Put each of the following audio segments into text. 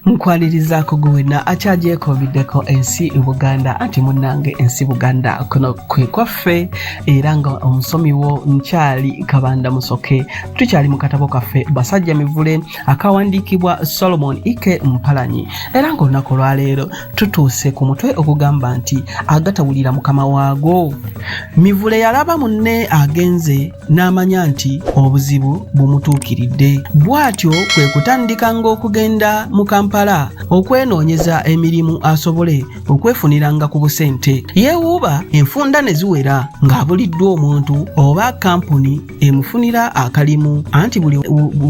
nkwalirizaako gwe wenna akyagyekoobiddeko ensi buganda anti munnange ensi buganda kuno kwe kwaffe era nga omusomi wo nkyali kabanda musoke tukyali mu katabo kaffe basajja mivule akawandiikibwa solomon ike mpalanyi era ng'olunaku olwaleero tutuuse ku mutwe ogugamba nti agatawulira mukama waago mivule yalaba munne agenze n'amanya nti obuzibu bumutuukiridde bw'atyo kwe kutandikanga okugenda mu kampala okwenoonyeza emirimu asobole okwefuniranga ku busente yeewuuba enfunda ne ziwera ng'abuliddwa omuntu oba kampuni emufunira akalimu anti buli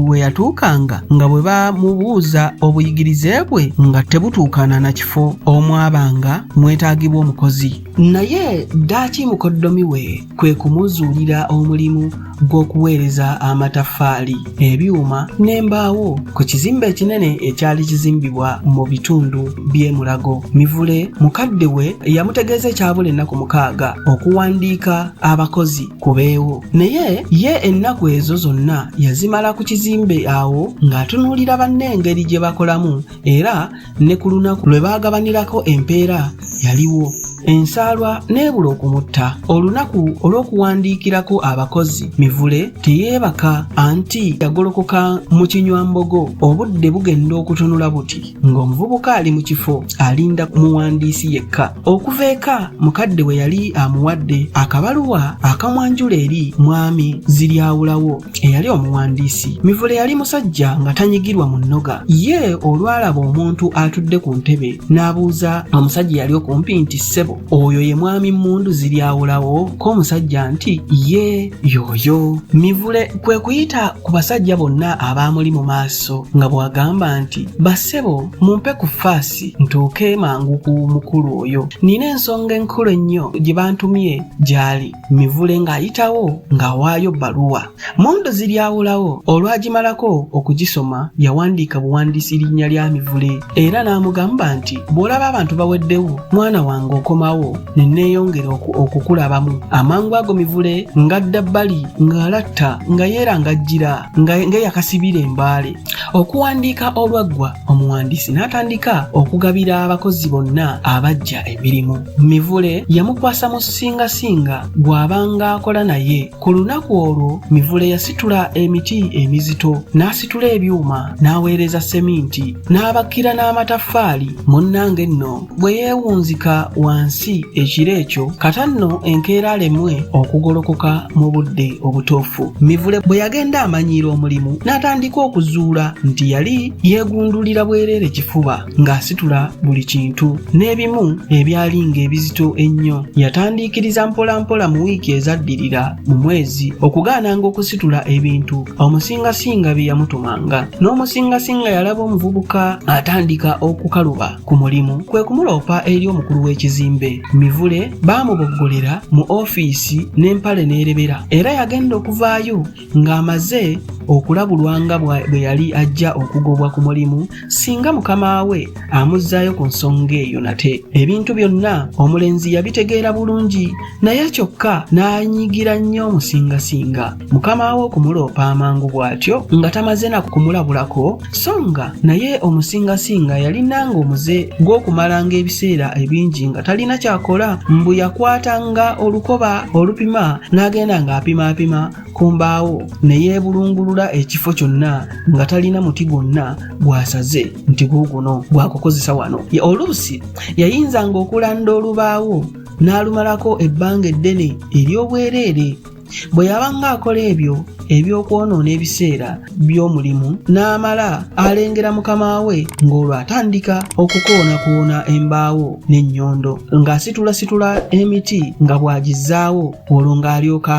we yatuukanga nga bwe bamubuuza obuyigirize bwe nga tebutuukana na kifo omwabanga mwetaagibwa omukozi naye ddaaki mukoddomi we kwe kumuzuulira omulimu gw'okuweereza amataffaali ebyuma n'embaawo ku kizimbe ekinene ekyali kizimbibwa mu bitundu by'e Mulago. Mivule mukadde we yamutegeeza ekyabula ennaku mukaaga okuwandiika abakozi ku beewo naye ye ennaku ezo zonna yazimala ku kizimbe awo ng'atunuulira banne engeri gye bakolamu era ne ku lunaku lwe baagabanirako empeera yaliwo ensaalwa n'ebula okumutta olunaku olw'okuwandiikirako abakozi mivule teyeebaka anti yagolokoka mu kinywambogo obudde bugenda okutunula buti ng'omuvubuka ali mu kifo alinda ku muwandiisi yekka okuva eka mukadde we yali amuwadde akabaluwa akamwanjula eri mwami ziryawulawo eyali omuwandiisi mivule yali musajja nga tanyigirwa mu nnoga ye olwalaba omuntu atudde ku ntebe n'abuuza omusajja yali okumpi nti ssebo oyo ye mwami mmundu ziryawulawo ko omusajja nti ye yooyo mivule kwe kuyita ku basajja bonna abaamuli mu maaso nga bw'agamba nti bassebo mumpe ku faasi ntuuke mangu ku mukulu oyo nina ensonga enkulu ennyo gye bantumye gy'ali Mivule ng'ayitawo ng'awaayo bbaluwa. Mondo ziryawulawo olwagimalako okugisoma yawandiika buwandiisi linnya lya Mivule era n'amugamba nti bw'olaba abantu baweddewo mwana wange okomawo ne neeyongera okukulabamu. Amangu ago Mivule ng'adda bbali ng'alatta nga yeerangajjira ng'eyakasibira embaale. Okuwandiika olwaggwa omuwandiisi n'atandika okugabira abakozi bonna abajja emirimu mivule yamukwasa mu ssingasinga gw'abanga akola naye ku lunaku olwo mivule yasitula emiti emizito n'asitula ebyuma n'aweereza seminti n'abakira n'amataffaali munnange nno bwe yeewunzika wansi ekiro ekyo kata nno enkeera alemwe okugolokoka mu budde obutuufu mivule bwe yagenda amanyiira omulimu n'atandika okuzuula nti yali yeegundulira bwereere kifuba ng'asitula buli kintu n'ebimu ebyali ng'ebizito ennyo yatandiikiriza mpolampola mu wiiki ezaddirira mu mwezi okugaananga okusitula ebintu omusingasinga bye yamutumanga n'omusingasinga yalaba omuvubuka atandika okukaluba ku mulimu kwe kumuloopa eri omukulu w'ekizimbe mivule baamuboggolera mu ofiisi n'empale n'erebera era yagenda okuvaayo ng'amaze okulabulwa nga bwe yali ajja okugobwa ku mulimu singa mukama we amuzzaayo ku nsonga eyo nate ebintu byonna omulenzi yabitegeera bulungi naye kyokka n'anyigira nnyo omusingasinga mukama we okumuloopa amangu bw'atyo nga tamaze na kumulabulako so nga naye omusingasinga yalinanga omuze gw'okumalanga ebiseera ebingi nga talina kyakola mbu yakwatanga olukoba olupima n'agenda ng'apimaapima ku mbaawo ne yeebulungulula ekifo kyonna nga talina muti gwonna gwasaze nti guuguno gwakukozesa wano oluusi yayinzanga okulanda olubaawo n'alumalako ebbanga eddene ery'obwereere bwe yabanga akola ebyo eby'okwonoona ebiseera by'omulimu n'amala alengera mukama we ng'olwo atandika okukoonakoona embaawo n'ennyondo ng'asitulasitula emiti nga bw'agizzaawo olwo ng'alyoka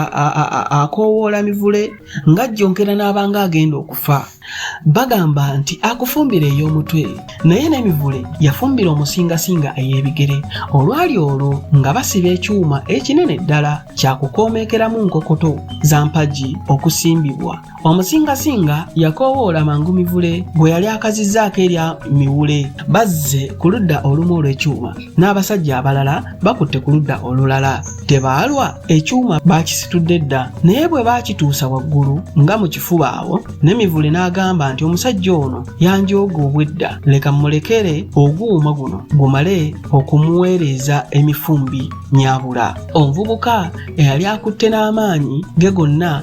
akoowoola mivule ng'ajjonkera n'abanga agenda okufa bagamba nti akufumbira ey'omutwe naye n'emivule yafumbira omusingasinga ey'ebigere olwali olwo nga basiba ekyuma ekinene ddala kyakukoomekeramu nkokoto za mpagi okusimbibwa omusingasinga yakoowoola mangu mivule gwe yali akazizaako erya miwule bazze ku ludda olumu olw'ekyuma n'abasajja abalala bakutte ku ludda olulala tebaalwa ekyuma baakisitudde dda naye bwe baakituusa waggulu nga mu kifuba awo ne mivule n'agamba nti omusajja ono yanjooga obwedda leka mmulekere oguuma guno gumale okumuweereza emifumbi nyabula omuvubuka eyali akutte n'amaanyi ge gonna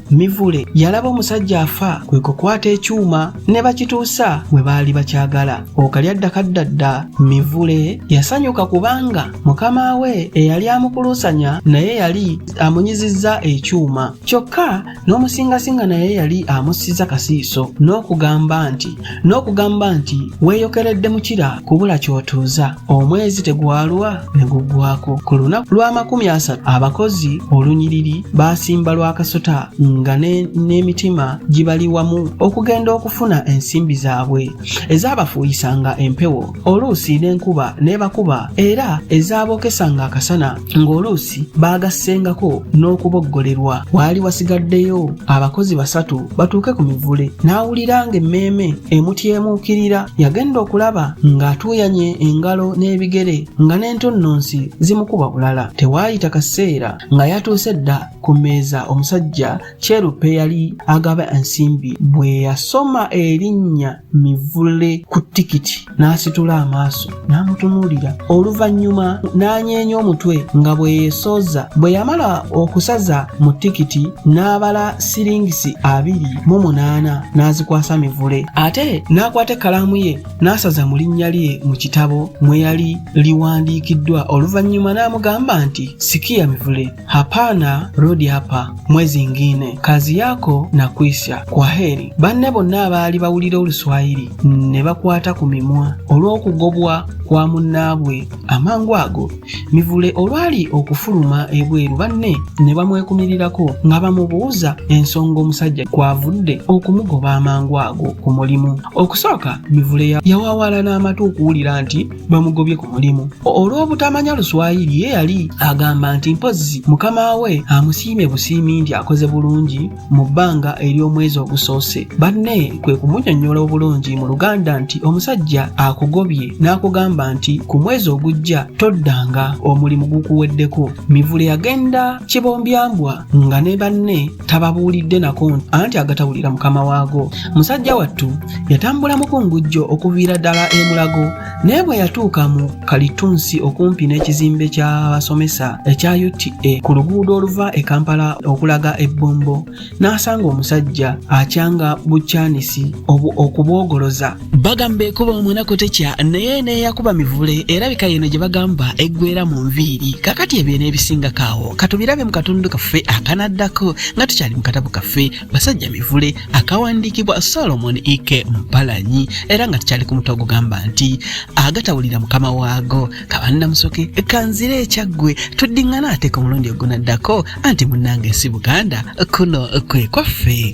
Mivule yalaba omusajja afa kwe kukwata ekyuma ne bakituusa we baali bakyagala okalya ddakaddadda Mivule yasanyuka kubanga mukama we eyali amukuluusanya naye yali amunyizizza ekyuma kyokka n'omusingasinga naye yali amussiza kasiiso n'okugamba nti n'okugamba nti weeyokeredde mukira kubula ky'otuuza omwezi tegwalwa ne guggwako ku lunaku lw'amakumi asatu abakozi olunyiriri baasimba lwa kasota nga n'emitima gibali wamu okugenda okufuna ensimbi zaabwe ezaabafuuyisanga empewo oluusi n'enkuba n'ebakuba era ezaabokesanga akasana ng'oluusi baagassengako n'okuboggolerwa waali wasigaddeyo abakozi basatu batuuke ku mivule n'awulira ng'emmeeme emutyemuukirira yagenda okulaba ng'atuuyanye engalo n'ebigere nga n'entonnonsi zimukuba bulala tewaayita kaseera nga yatuuse dda ku mmeeza omusajja Kyerupe yali agaba ensimbi bwe yasoma erinnya Mivule ku tikiti n'asitula amaaso n'amutunuulira oluvannyuma n'anyeenya omutwe nga bwe yeesooza bwe yamala okusaza mu tikiti n'abala siringisi abiri mu munaana n'azikwasa Mivule ate n'akwata ekkalaamu ye n'asaza mu linnya lye mu kitabo mwe yali liwandiikiddwa oluvannyuma n'amugamba nti sikiya Mivule Hapana, rudi hapa mwezi ingine, kazi yako na kwisha, kwa heri. Banne bonna abaali bawulira oluswayiri ne bakwata ku mimwa olw'okugobwa kwa munnaabwe. Amangu ago Mivule olwali okufuluma ebweru, banne ne bamwekumirirako nga bamubuuza ensonga omusajja kwavudde okumugoba amangu ago ku mulimu. Okusooka Mivule yawawala n'amatu okuwulira nti bamugobye ku mulimu olw'obutamanya luswayiri ye yali agamba nti mpozzi mukama we amusiimye busiimi nti akoze bulungi mu bbanga ery'omwezi ogusoose banne kwe kumunyonnyola obulungi mu luganda nti omusajja akugobye n'akugamba nti ku mwezi ogujja toddanga omulimu gukuweddeko mivule yagenda kibombyambwa nga ne banne tababuulidde nako anti agatawulira mukama waago musajja wattu yatambula mukungujjo okuviira ddala emulago naye bwe yatuuka mu kalitunsi okumpi n'ekizimbe ky'abasomesa ekya uta ku luguudo oluva e kampala okulaga ebbombo n'asanga omusajja akyanga bukyanisi okubwogoloza bagamba ekuba omunaku tekya naye neyakuba mivule erabika yeno gye bagamba eggwera mu nviiri kakati ebyo n'ebisinga kaawo katubirabe mu katundu kaffe akanaddako nga tukyali mu katabu kaffe basajja mivule akawandiikibwa solomon ike mpalanyi era nga tukyali ku mutwe ogugamba nti agatawulira mukama waago kabanna musoke kanzira ekyaggwe tuddiŋŋana ateeka omulundi ogunaddako anti munnange si buganda kuno kwe kwaffe